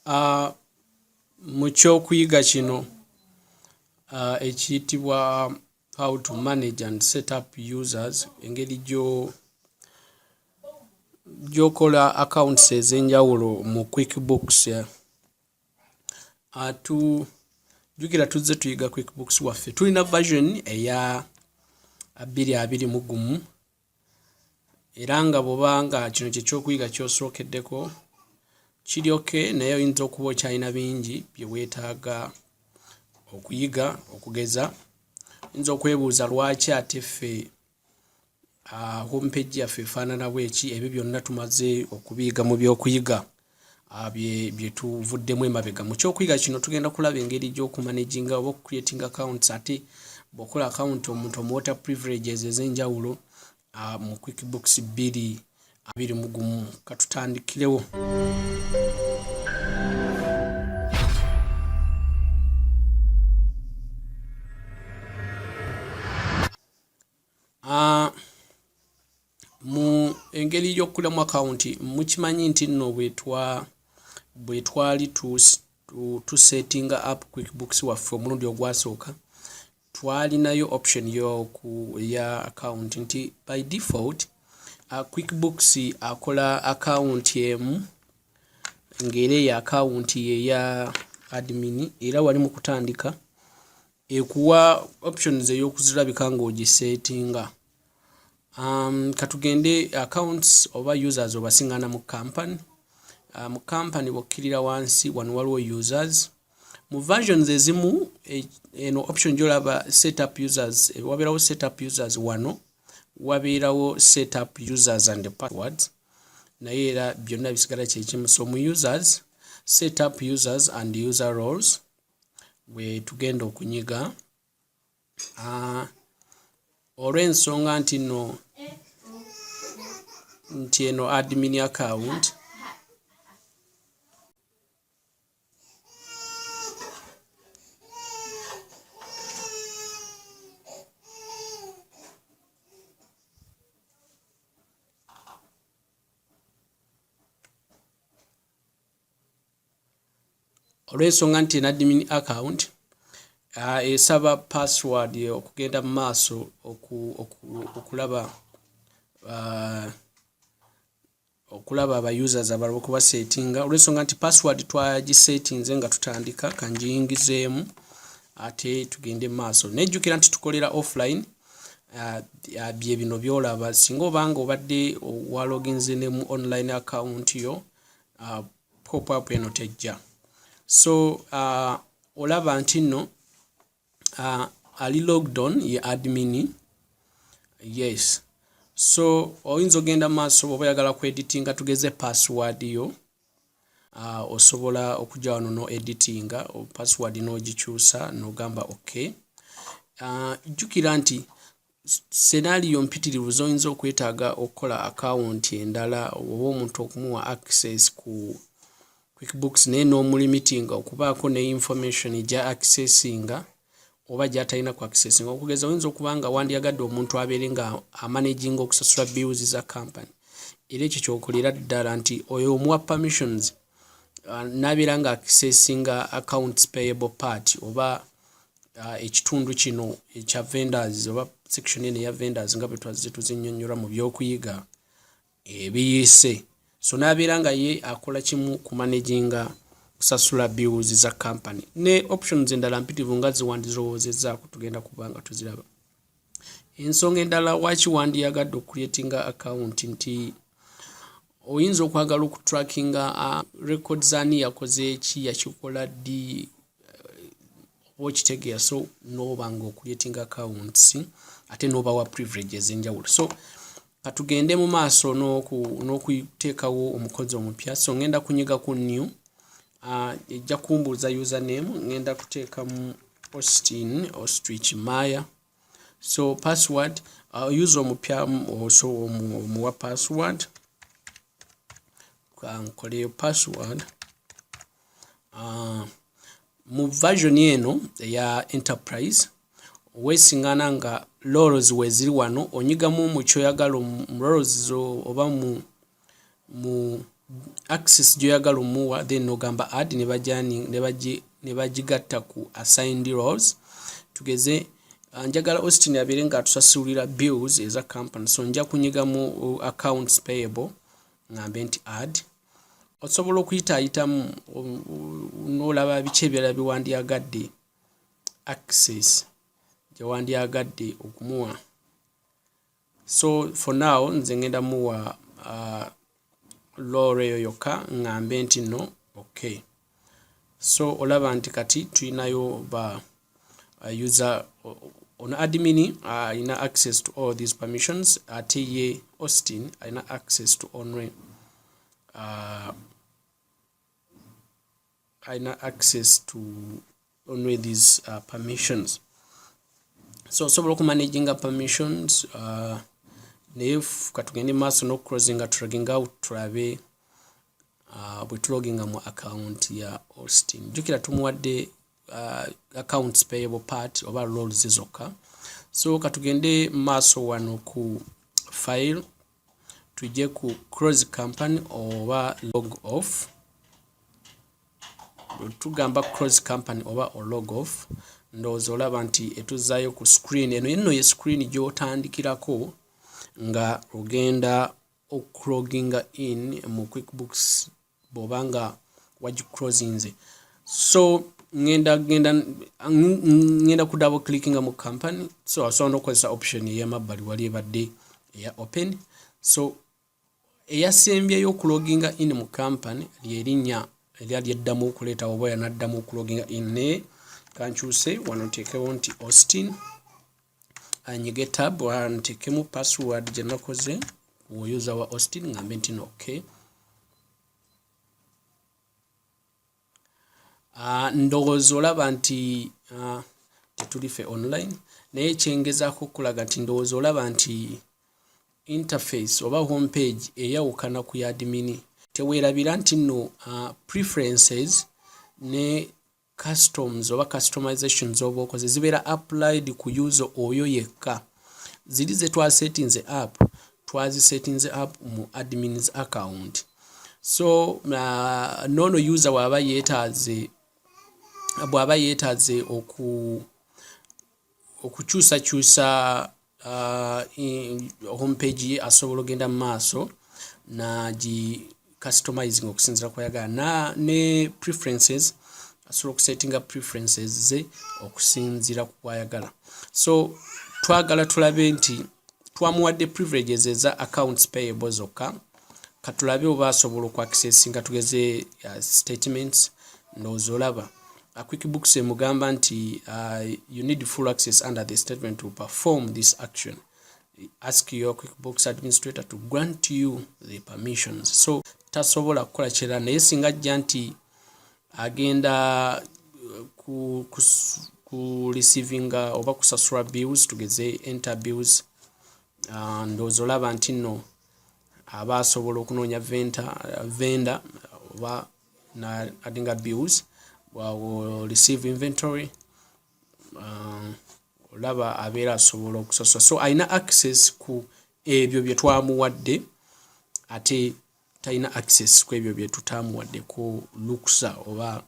Ah, mu kyokuyiga kino ah, ekiyitibwa how to manage and set up users engeri gyokola accounts ez'enjawulo mu quick books eh, atu jukira tuzze tuyiga quick books waffe tulina version eya abiri abiri mu gumu era nga bwoba nga kino kyekyokuyiga kyosookeddeko kiri oke naye oyinza okuba okyalina bingi byewetaaga okuyiga okugeza oyinza okwebuuza lwaki ate ffe ah, homepage yaffe efaanana bweki ebyo byonna tumaze okubiyiga mu byokuyiga Ah, bye tuvuddemu emabega mu kyokuyiga kino tugenda kulaba engeri gy'okumanaginga oba okucreating accounts ate bwokola account omuntu omuwota privileges ez'enjawulo ah, mu quick books bbiri abiri mu gumu katutandikirewo Ah, mu engeri y'okukulamu akawunti mukimanyi nti nno bwe twali tusetinga app quick books waffe omulundi ogwasooka twalinayo option yoku eya akawunti nti by default ah, quick books akola akawunti emu ng'era eyo akawunti yeya admin era wali mu kutandika ekuwa options ey'okuzirabika ng'ogiseetinga um, katugende accounts oba users obasingana mu company uh, mu company bokkirira wansi wano waliwo users mu versions ezimu e, eno option gyolaba setup users e, wabeerawo setup users wano wabeerawo setup users and passwords naye era byonna bisigala kyekimu so mu users setup users and user roles gwetugenda okunyiga ah, olw'ensonga nti no nti eno admin account olw'ensonga nti enadmin account uh, esaba password okugenda mu maaso okulaba uh, okulaba aba users abalaba okubasetinga olw'ensonga nti password twagisetinze nga tutandika kanjiyingizeemu ate tugende mu maaso nejjukira nti tukolera offline uh, uh, bye bino byolaba singa obanga obadde waloginze ne mu online account yo uh, pop up eno tejja so uh, olaba nti nno uh, ali lockdown ye admin yes so oyinza ogenda maaso bwoba oyagala ku editinga tugeze password yo uh, osobola okujja wano no editinga password n'ogikyusa nogamba ok uh, jjukira nti senaaliyo mpitirivu z'oyinza okwetaaga okukola akawunti endala oba omuntu okumuwa access ku quickbooks naye n'omulimitinga okubaako ne information gya accessinga oba gyatalina ku accessinga okugeza oyinza okuba nga wandyagadde omuntu abeere nga amanaginga okusasula bills za company era ekyo kyokolera ddala nti oyo omuwa permissions uh, nabeera nga accessinga accounts payable part oba uh, ekitundu kino ekya vendors oba section eno eya vendors nga bwe twazze tuzinyonyola mu byokuyiga ebiyiise so n'abeera nga ye akola kimu ku managinga kusasula bills za company ne options endala mpitivu nga ziwandirowoozezzaako tugenda kuba nga tuziraba ensonga endala waki wandiyagadde okucreatinga account nti oyinza okwagala okutrackinga uh, records ani yakoze ki yakikola ddi uh, okitegeera so noba nga ocreating accounts ate nobawa privilege ezenjawulo so katugende mu maaso n'okuteekawo omukozi omupya so ngenda kunyiga ku new ah, ejja kumbuuza username ngenda kuteekamu austin ostrich maya so password ah, user omupya oso omuwa password kankoleyo password ah, mu version eno eya enterprise wesingana nga lorels weziri wano onyigamu mukyoyagala mu lorels zo oba mu mu access gyoyagala omuwa then nogamba add nebagigatta ku assigned roles tugeze ah, njagala austin abeere nga atusasulira bills eza company so nja kunyiga mu uh, accounts payable ngambe nti add osobola okuyitaayitamu nolaba biki ebirala byewandyagadde access gyewandyagadde okumuwa so for now nze ngenda muwa uh, lore eyo yokka ŋŋambe nti no okay so olaba nti kati tulinayo ba uh, user ono admin uh, alina uh, access to all these permissions ate uh, ye austin alina access to onre uh, alina access to only these uh, permissions so osobola okumanaginga permissions uh, naye katugende maaso nokucrosinga tulaginga out tulabe uh, bwetuloginga mu account ya austin jukira tumuwadde uh, accounts payable part oba roles zokka so katugende maaso wano ku file tujje ku close company oba log off tugamba close company oba log off ndowooza olaba nti etuzaayo ku screen eno yenno ye screen gy'otandikirako nga ogenda okuloginga in mu quickbooks bwoba nga wagicrosinze so ngenda genda ngenda ku double clickinga mu company so asobola nokukozesa option eyamabbali wali ebadde eya open so eyasembyeyo okuloginga in mu company lyerinnya erya lyeddamu okuleeta oba yanaddamu okuloginga in naye kankyuse wano nteekewo nti austin anyige tab antekemu password gye nakoze woyuza wa austin ngambe nti no okay uh, ndowooza olaba nti uh, tetuli fe online naye kyengezaako okulaga nti ndowooza olaba nti interface oba home page eyawukana ku yadimini teweerabira nti nno uh, preferences ne customs oba customizations oba okoze zibeera applied ku user oyo yekka ziri zetwasetinze app twazisetinze app mu admins account so uh, nono user bwaba yetaze bwaba yetaze oku okukyusakyusa uh, home page ye asobola ogenda mu maaso nagi customizing okusinzira kwayagala na ne preferences asobola okusettinga preferences ze okusinzira ku kwayagala so twagala tulabe nti twamuwadde privileges eza accounts payable zokka katulabe oba asobola okwakisesinga tugeze uh, statements ndowooza olaba uh, quick books emugamba nti uh, you need full access under the statement to perform this action ask your quick books administrator to grant you the permissions so tasobola kukola kirala naye singa ajja nti agenda uh, ku, ku, ku receivinga oba kusasula bills tugeze enter bills uh, ndowooza olaba nti nno aba asobola okunoonya venda oba adinga bills wawo receive inventory uh, olaba abeera asobola okusasula so alina access ku ebyo bye twamuwadde ate talina access ku ebyo bye tutaamuwadde ku lukusa oba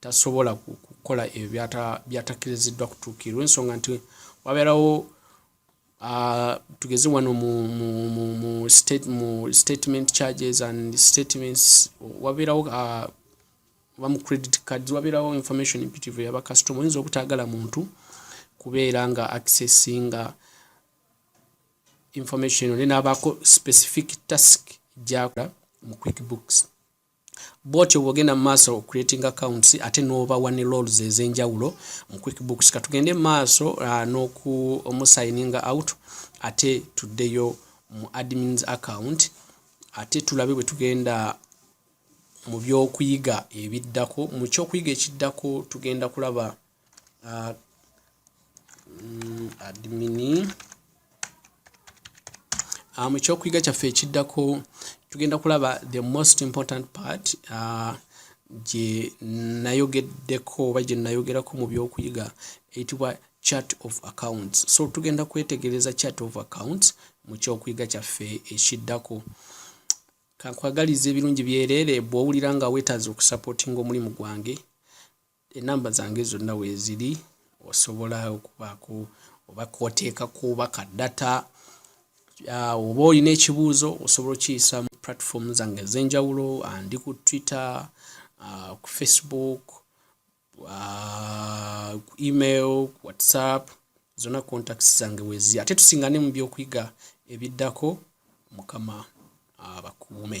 tasobola kukola ebyo byatakkiriziddwa kutuukirwa ensonga nti wabeerawo tugeze wano mu statement charges and statements wabeerawo oba mu credit cards wabeerawo information imperative yabakasitoma oyinza obutaagala muntu kubeera nga accessinga information ne nabaako specific task gyakola mu quick books Bwotyo bwogenda mu maaso o creating accounts ate n'obawa ne roles ez'enjawulo mu QuickBooks. Ka tugende mu maaso uh, n'okumusayininga out ate tuddeyo mu admins account ate tulabe bwe tugenda mu by'okuyiga ebiddako. Mu ky'okuyiga ekiddako tugenda kulaba uh, mm, admini ah, mu kyokuyiga kyaffe ekiddako tugenda kulaba the most important part uh, gye nayogeddeko oba gye nayogerako mu byokuyiga eyitibwa chart of accounts so tugenda kwetegereza chart of accounts mu kyokuyiga kyaffe ekiddako kankwagaliza ebirungi byereere bw'owulira nga weetaaza okusapootinga omulimu gwange enamba zange zonna weeziri osobola okubaako oba kwoteeka kuba ka data ah, oba olina ekibuuzo osobola okiyisa mu platform zange ez'enjawulo ah, ndi ku twitter ah, ku facebook ku email ku whatsapp zonna contacts zange wezi ate tusingane mu byokuyiga ebiddako mukama abakuume